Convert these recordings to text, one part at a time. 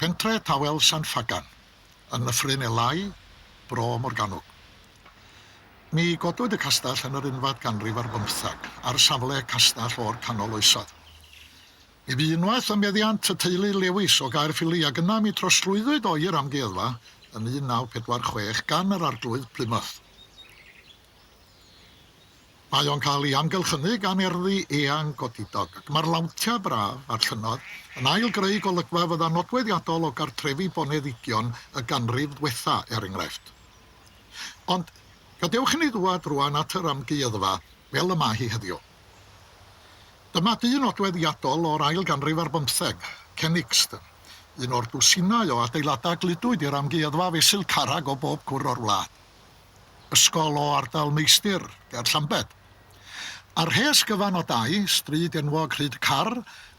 Pentre tawel San Ffagan, yn nyffryn Elái, Bro Morgannwg. Ni godwyd y castell yn yr unfad ganrif ar bymtheg, ar safle castell o'r canol oesoedd. Mi fu unwaith ym meddiant y teulu Lewis o Gaerffili ac yna mi trosglwyddwyd o i'r amgueddfa yn 1946 gan yr Arglwydd Plymouth. Mae o'n cael ei amgylchynu gan erddi eang godidog ac mae'r lawntiau braf a'r llynnoedd yn ail-greu golygfa fydda nodweddiadol o gartrefi boneddigion y ganrif ddwetha, er enghraifft. Ond gadewch inni ddwad rwan at yr amgueddfa fel y mae hi heddiw. Dyma dŷ nodweddiadol o'r ail ganrif ar bymtheg, Kenixton, un o'r dwsinau o adeiladau gludwyd i'r amgueddfa fesul carreg o bob cwr o'r wlad. Ysgol o ardal Meistr, ger Llambed. Ar rhes gyfan o dai, stryd enwog Rhyd Carr,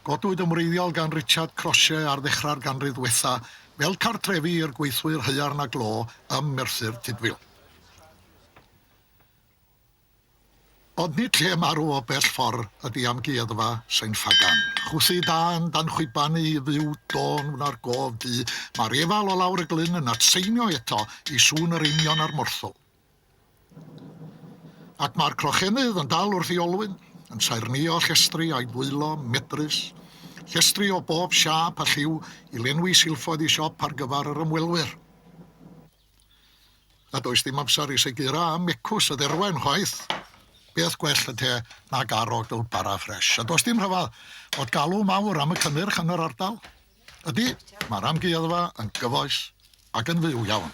godwyd yn wreiddiol gan Richard Croshe ar ddechrau'r ganrif ddwetha fel cartrefi i'r gweithwyr haearn a glo ym Merthyr Tudful. Ond nid lle marw o bell ffordd ydy Amgueddfa Sain Ffagan. Chwythu dân dan chwiban i fyw dôn wna'r gof du, mae'r efal o lawr y glyn yn atseinio eto i sŵn yr einion a'r morthwl. Ac mae'r crochennydd yn dal wrth ei olwyn, yn saernïo llestri a'i ddwylo, medrus, llestri o bob siâp a lliw i lenwi silffoedd ei siop ar gyfer yr ymwelwyr. Na does dim amser i segur a mecws y dderwen chwaith. Peth gwell y te na garogl bara ffresh. A does dim rhyfedd fod galw mawr am y cynnyrch yn yr ardal. Ydy, mae'r amgueddfa yn gyfoes ac yn fyw iawn.